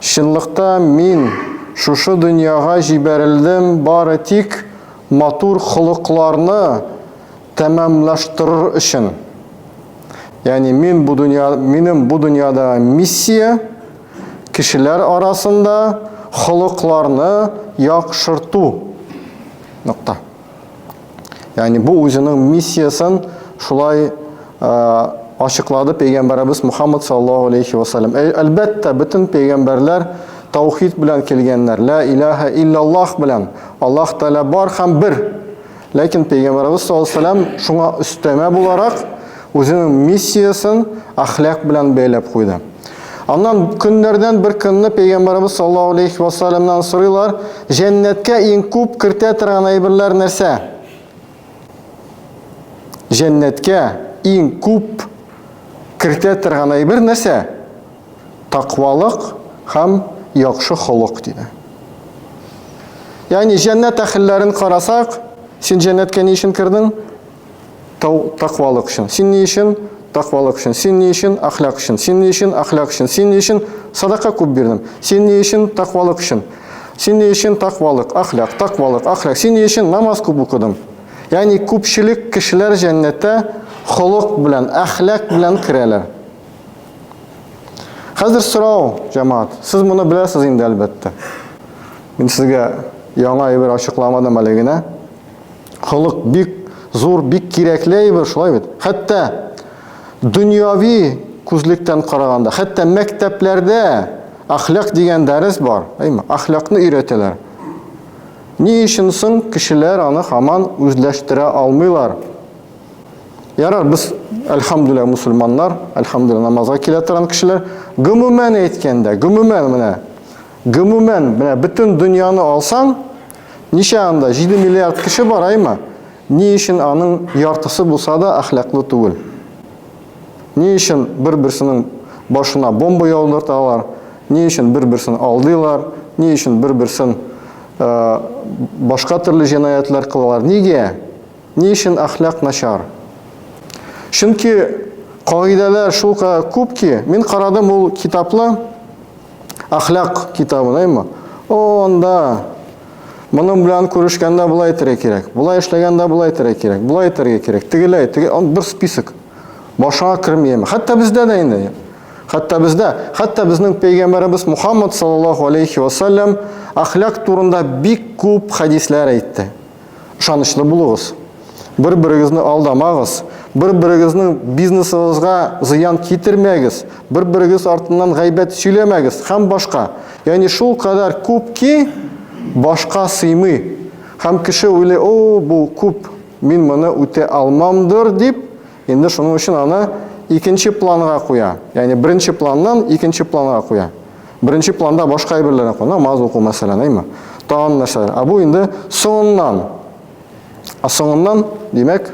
Чынлыкта мин шушы дөньяга җибәрелдем бары тик матур холыкларны тәмамлаштырыр өчен. Ягъни мин бу дөнья, минем бу дөньяда миссия, кешеләр арасында холыкларны яхшырту. Нокта. Ягъни бу үзенең миссиясен шулай ачыклады пәйгамбәребез Мухаммад саллаллаһу алейхи ва саллям. Әлбәттә, бөтен пәйгамбәрләр таухид белән килгәннәр. Ла илаһа иллаллаһ белән. Аллаһ Тәгалә бар һәм бер. Ләкин пәйгамбәребез саллаллаһу алейхи ва саллям шуңа өстәмә буларак Үзенең миссиясен әхлак белән бәйләп куйды. Аннан көннәрдән бер көнне пәйгамбәрбез саллаллаһу алейхи ва саллямнан сорыйлар, җәннәткә иң күп кертә торган әйберләр нәрсә? Җәннәткә иң күп кертә торган әйбер нәрсә? Таквалык һәм яхшы холык диде. Ягъни җәннәт әхелләрен карасак, син җәннәткә ни өчен кердең? Тау таквалык өчен. Син ни өчен? Таквалык өчен. Син ни өчен? Әхлак өчен. Син ни өчен? Әхлак өчен. Син ни өчен? Садака күп бирдем. Син ни өчен? Таквалык өчен. Син ни өчен? Таквалык, әхлак, таквалык, әхлак. Син ни өчен? Намаз күп укыдым. Ягъни күпчелек кешеләр җәннәттә холык белән, әхлак белән керәләр. Хәзер сорау, җәмаат, сез моны беләсез инде әлбәттә. Мин сезгә яңа әйбер ачыкламадым әле генә. Холык бик зур, бик кирәкле әйбер, шулай бит. Хәтта дөньяви күзлектән караганда, хәтта мәктәпләрдә ахлак дигән дәрес бар, әйме? Ахлакны өйрәтәләр. Ни өчен соң кешеләр аны хаман үзләштерә алмыйлар? Ярар, без әлхамдүлилла мусульманнар, әлхамдүлилла намазга килә торган кешеләр. Гомумән әйткәндә, гомумән менә, гомумән менә бөтен дөньяны алсаң, Ничә анда? 7 миллиард кеше бар, аймы? Ни өчен аның яртысы булса да әхлаклы түгел? Ни өчен бер-берсенең башына бомба яудырталар? Ни өчен бер-берсен алдыйлар? Ни өчен бер-берсен э, башка төрле җинаятлар кылалар? Нигә? Ни өчен әхлак начар? Чөнки кагыйдәләр шулкадәр күп ки, мин карадым ул китапны, әхлак китабын, әйме? О, анда моның белән күрешкәндә болай итәргә кирәк, болай эшләгәндә болай итәргә кирәк, болай итәргә кирәк, тегеләй, теге бер список. Башыңа керми яме. Хәтта бездә дә инде. Хәтта бездә, хәтта безнең пәйгамбәребез Мухаммад саллаллаһу алейхи ва саллям әхлак турында бик күп хәдисләр әйтте. Ышанычлы булыгыз. Бер-берегезне алдамагыз. Бер-берегезнең бизнесыгызга зыян китермәгез. Бер-берегез артыннан гайбәт сөйләмәгез һәм башка. Ягъни шул кадәр күп ки, башка сыймый. Һәм кеше уйлый, о, бу күп, мин моны үтә алмамдыр, дип, Инде шуның өчен аны икенче планга куя. Ягъни беренче планнан икенче планга куя. Беренче планда башка әйберләрне куя, намаз уку мәсәлән, әйме? Тагын нәрсәләр. Ә бу инде соңыннан. Ә соңыннан, димәк,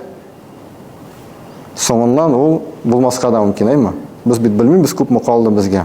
соңыннан ул булмаска да мөмкин, әйме? Без бит белмибез күпме калды безгә.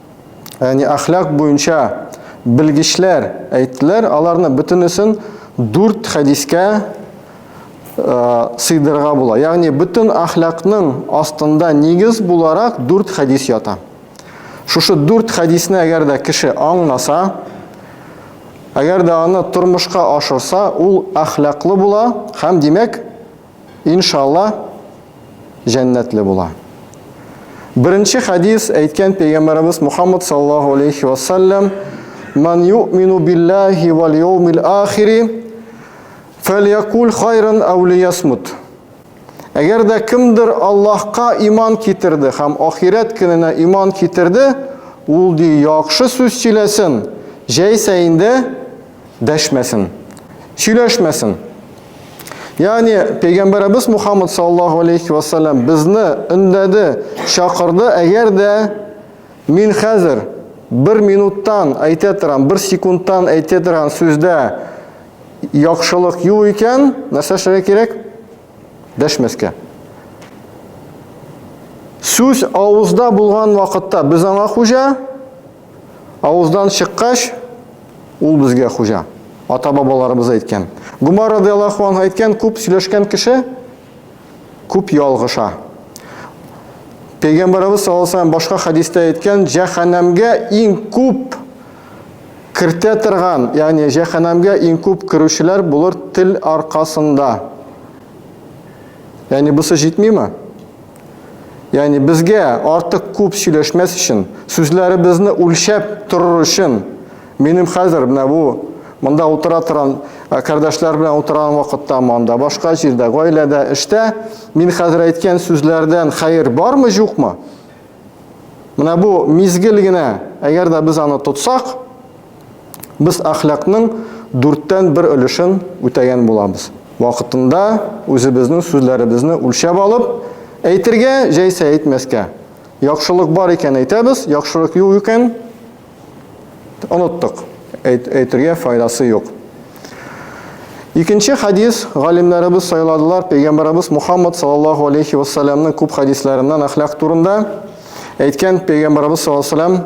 Яни әхлак буенча белгечләр әйттеләр, аларны бөтенесен 4 хәдискә э, сыйдырырга була. Ягъни бөтен әхлакның астында нигез буларак 4 хәдис ята. Шушы 4 хәдисне әгәр дә кеше аңнаса, әгәр дә аны тормышка ашырса, ул әхлаклы була һәм димәк Иншалла җәннәтле була. Беренче хадис әйткән пәйгамбәребез Мухаммад саллаллаһу алейхи ва саллям "Ман юмину биллаһи вал яумил ахири фәльякул хайран ау лиясмут". Әгәр дә кемдер Аллаһка иман китерде һәм ахирәт көненә иман китерде, ул ди яхшы сүз сөйләсен, җәйсә инде дәшмәсен, сөйләшмәсен. Ягъни пәйгамбәребез Мухаммад саллаллаһу алейхи ва саллям безне өндәде, чакырды, әгәр дә мин хәзер бер минуттан әйтә торам, бер секундтан әйтә торган сүздә яхшылык юк икән, нәрсә эшләргә кирәк? Дәшмәскә. Сүз авызда булган вакытта без аңа хуҗа, Авыздан чыккач, ул безгә хуҗа. Ата-бабаларыбыз әйткән. Гомар радиаллаху анһу әйткән, күп сөйләшкән кеше күп ялгыша. Пәйгамбарыбыз саллаллаху башка хәдистә әйткән, җәһәннәмгә иң күп кертә торган, ягъни җәһәннәмгә иң күп керүчеләр булыр тел аркасында. Ягъни бусы җитмиме? Ягъни безгә артык күп сөйләшмәс өчен, сүзләребезне үлчәп торыр өчен, минем хәзер менә бу монда утыра торган кардәшләр белән утырган вакытта монда, башка җирдә, гаиләдә, эштә мин хәзер әйткән сүзләрдән хәер бармы, юкмы? Менә бу мизгел генә, әгәр дә без аны тотсак, Без әхлакның дүрттән бер өлешен үтәгән булабыз. Вакытында үзебезнең сүзләребезне үлчәп алып, әйтергә, җәйсә әйтмәскә. Яхшылык бар икән әйтәбез, яхшылык юк икән, оныттык, әйтергә файдасы юк. Икенче хадис, галимнәребез сайладылар пәйгамбәребез Мухаммад саллаллаһу алейхи ва күп хадисләреннән әхлак турында әйткән пәйгамбәребез саллаллаһу алейхи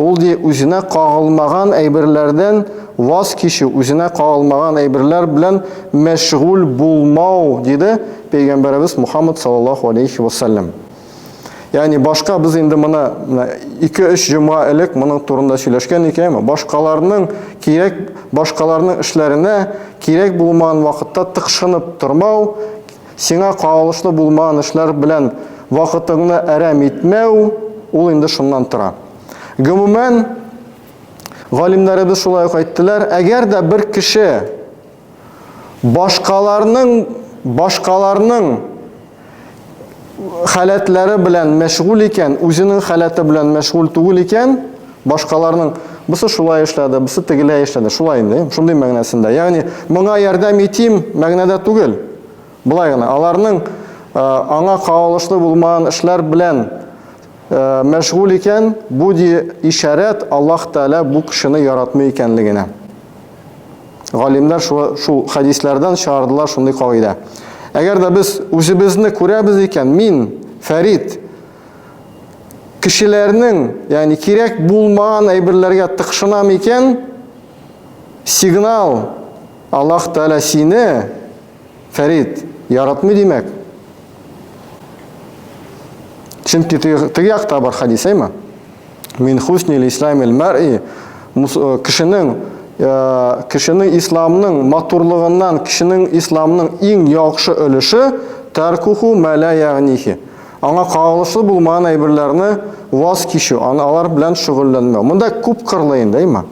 Ул, ди, үзенә кагылмаган әйберләрдән ваз кичү, үзенә кагылмаган әйберләр белән мәшгуль булмау, диде Пәйгамбәребез Мухаммад саллаллаһу алейхи ва саллям. Ягъни башка без инде моны 2-3 җомга элек моның турында сөйләшкән икән, башкаларның кирәк, башкаларның эшләренә кирәк булмаган вакытта тыкшынып тормау, Сиңа кагылышлы булмаган эшләр белән вакытыңны әрәм итмәү, ул инде шуннан тора. Гомумән, галимнәребез шулай ук әйттеләр, әгәр дә бер кеше башкаларның башкаларның халәтләре белән мәшгуль икән, үзенең халәте белән мәшгуль түгел икән, Башкаларның бусы шулай эшләде, бусы тегеләй эшләде. Шулай инде, шундый мәгънәсендә. Ягъни моңа ярдәм итим мәгънәдә түгел. Болай гына, аларның аңа кагылышлы булмаган эшләр белән мәшгуль икән, бу ди ишарәт Аллаһ Тәгалә бу кешене яратмый икәнлегенә. Галимнәр шул, шул хадисләрдән чыгардылар шундый кагыйдә. Әгәр дә без үзебезне күрәбез икән, мин Фәрид кешеләрнең, ягъни кирәк булмаган әйберләргә тыкшынам икән, сигнал Аллаһ Тәгалә сине, Фәрид, яратмый димәк. Чөнки теге якта бар хадис, әйме? Мин хуснил исламил мар'i э, кешенең э, кешенең исламның матурлыгыннан, кешенең исламның иң яхшы өлеше таркуху мәлә ягънихи. Аңа кагылышлы булмаган әйберләрне ваз кичү, аны алар белән шөгыльләнмәү. Монда күп кырлы инде, әйма.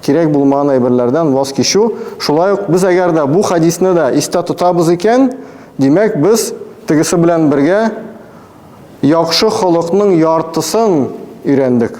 Кирәк булмаган әйберләрдән ваз кичү. Шулай ук без әгәр дә бу хәдисне дә истә тотабыз икән, димәк, без тегесе белән бергә яхшы холыкның яртысын өйрәндек.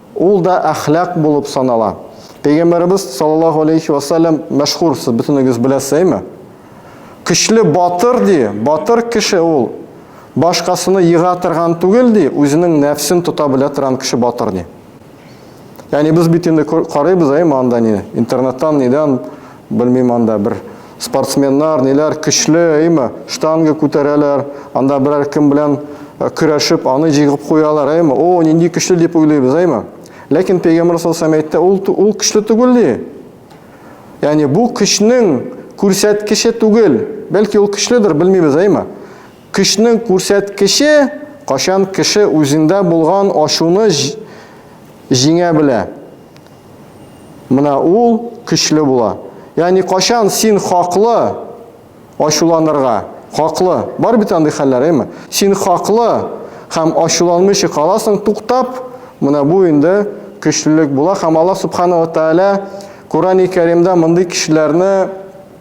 Ул да әхлак булып санала. Пәйгамбәребез саллаллаһу алейһи вә сәлләм мәшһүр, сез бөтенегез беләсез, әйме? Көчле батыр, ди, батыр кеше ул, башкасыны ега торган түгел, ди, үзенең нәфсен тота белә торган кеше батыр, ди. Ягъни без бит инде карыйбыз, әйме, анда ни, интернеттан, нидән, Белмим анда бер спортсменнар, ниләр көчле, әйме, штанга күтәрәләр, анда берәр кем белән э, көрәшеп, аны җигеп куялар, әйме, о, нинди көчле дип уйлыйбыз, әйме. Ләкин Пәйгамбер саллаллаху әйтте, ул ул көчле түгел ди. Ягъни бу көчнең күрсәткече түгел, бәлки ул көчледер, белмибез, әйме. Көчнең күрсәткече кашан кеше үзендә булган ашуны җиңә белә. Менә ул көчле була. Ягъни качан син хаклы ачуланырга, хаклы. Бар бит андый хәлләр, әйме? Син хаклы һәм ачуланмыйча каласың, туктап, менә бу инде көчлелек була һәм Аллаһ Субхана ва Тааля Коръәни Кәримдә мондый кешеләрне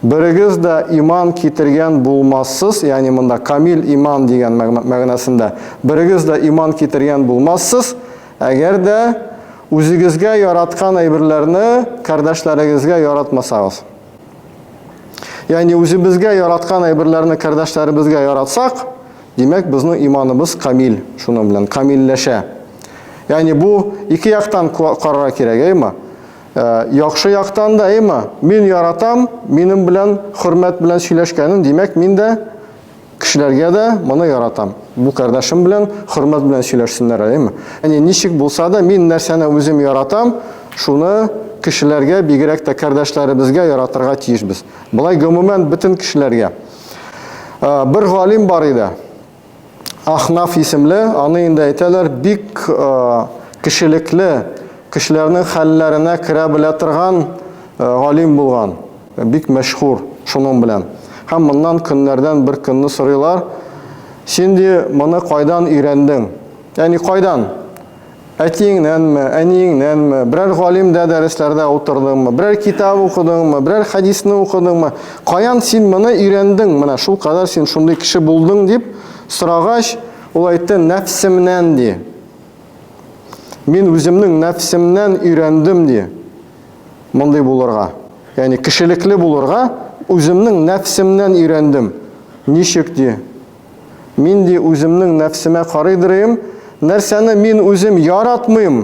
Берегез дә иман китергән булмассыз, ягъни монда камил иман дигән мәгънәсендә. Берегез дә иман китергән булмассыз, әгәр дә үзегезгә яраткан әйберләрне кардәшләрегезгә яратмасагыз. Ягъни үзебезгә яраткан әйберләрне кардәшләребезгә яратсак, димәк, безнең иманыбыз камил, шуның белән камилләшә. Ягъни бу ике яктан карарга кирәк, әйме? Ә, яхшы яктан да, әйме? Мин яратам, минем белән хөрмәт белән сөйләшкәнен, димәк, мин дә кешеләргә дә моны яратам. Бу кардәшем белән хөрмәт белән сөйләшсеннәр, әйме? Әни, ничек булса да, мин нәрсәне үзем яратам, шуны кешеләргә, бигрәк тә кардәшләребезгә яратырга тиешбез. Болай гомумән бөтен кешеләргә. Бер галим бар иде. Ахнаф исемле, аны инде әйтәләр, бик кешелекле, кешеләрнең хәлләренә керә белә торган галим булган, бик мәшһүр шуның белән. Һәм моннан көннәрдән бер көнне сорыйлар, Син, ди, моны кайдан өйрәндең? Ягъни кайдан? Әтиеңнәнме, әниеңнәнме, берәр галимдә дәресләрдә утырдыңмы, берәр китап укыдыңмы, берәр хәдисне укыдыңмы, каян син моны өйрәндең, менә шул кадәр син шундый кеше булдың дип сорагач, ул әйтте, нәфсемнән ди. Мин үземнең нәфсемнән өйрәндем ди. Мондый булырга. Ягъни кешелекле булырга үземнең нәфсемнән өйрәндем. Ничек ди? Мин ди үземнең нәфсемә карый дырыйм, нәрсәне мин үзем яратмыйм,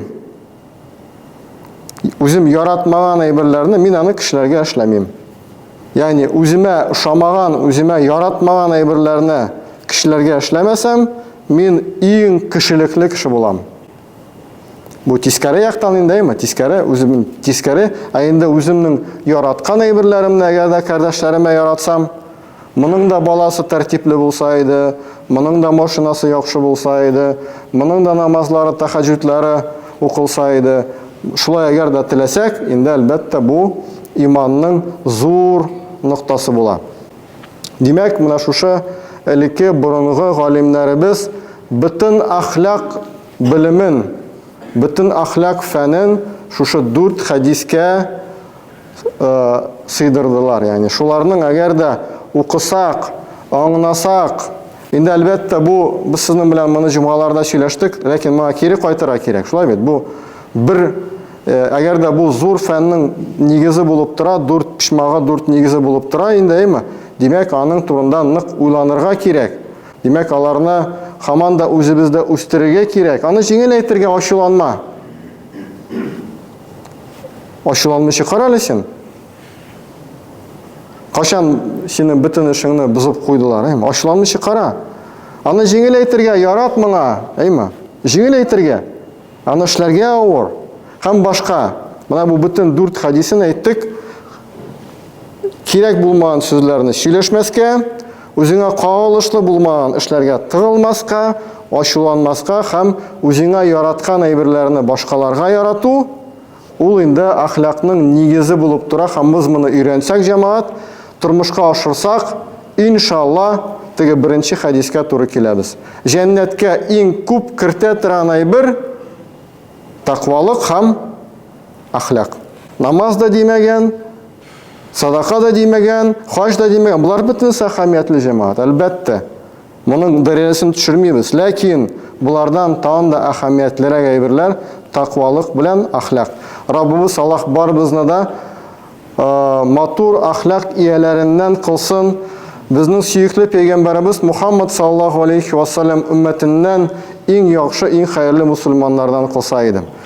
үзем яратмаган әйберләрне мин аны кешеләргә эшләмим. Ягъни үземә ошамаган, үземә яратмаган әйберләрне кешеләргә эшләмәсәм, мин иң кешелекле кеше булам. Бу тискәре яктан инде, әйме, тискәре, үзем тискәре, ә инде үземнең яраткан әйберләремне әгәр дә кардәшләремә яратсам, моның да баласы тәртипле булса иде, моның да машинасы яхшы булса иде, моның да намазлары, тахаҗүдләре укылса иде. Шулай әгәр дә теләсәк, инде әлбәттә бу иманның зур ноктасы була. Димәк, менә шушы элекке борынгы галимнәребез бөтен әхлак белемен, бөтен әхлак фәнен шушы дүрт хәдискә э, сыйдырдылар. Ягъни шуларның әгәр дә укысак, аңнасак, инде әлбәттә бу без сезнең белән моны җомгаларда сөйләштек, ләкин моңа кире кайтырга кирәк. Шулай бит? Бу бер Әгәр дә бу зур фәннең нигезе булып тора, дүрт почмагы дүрт нигезе булып тора инде, әйме? Димәк, аның турында нык уйланырга кирәк. Димәк, аларны хаман да үзебездә үстерергә кирәк. Аны җиңел әйтергә ачуланма. Ачуланмыйча кара әле син. Кашан синең бөтен эшеңне бозып куйдылар, әйме? Ачуланмыйча кара. Аны җиңел әйтергә ярат моңа, әйме? Җиңел әйтергә. Аны эшләргә авыр. Һәм башка. Менә бу бөтен дүрт хәдисен әйттек. Кирәк булмаган сүзләрне сөйләшмәскә, үзеңә кагылышлы булмаган эшләргә тыгылмаска, ачуланмаска һәм үзеңә яраткан әйберләрне башкаларга ярату, Ул инде әхлакның нигезе булып тора һәм мыз моны өйрәнсәк, җәмәгать, тормышка ашырсак, иншалла, теге беренче хәдискә туры киләбез. Җәннәткә иң күп кертә торган әйбер, тәкъвалык һәм әхлак. Намаз да димәгән, садака да димәгән, хаҗ да димәгән, болар бөтенесе әһәмиятле, җәмәгать, әлбәттә. Моның дәрәҗәсен төшермибез, ләкин болардан тагын да әһәмиятлерәк әйберләр тәкъвалык белән әхлак. Раббыбыз Аллаһ барыбызны да матур әхлак ияләреннән кылсын. Безнең сөекле пәйгамбәребез Мухаммад саллаллаһу алейхи ва саллям өммәтеннән иң яхшы, иң хәерле мусульманнардан кылса иде.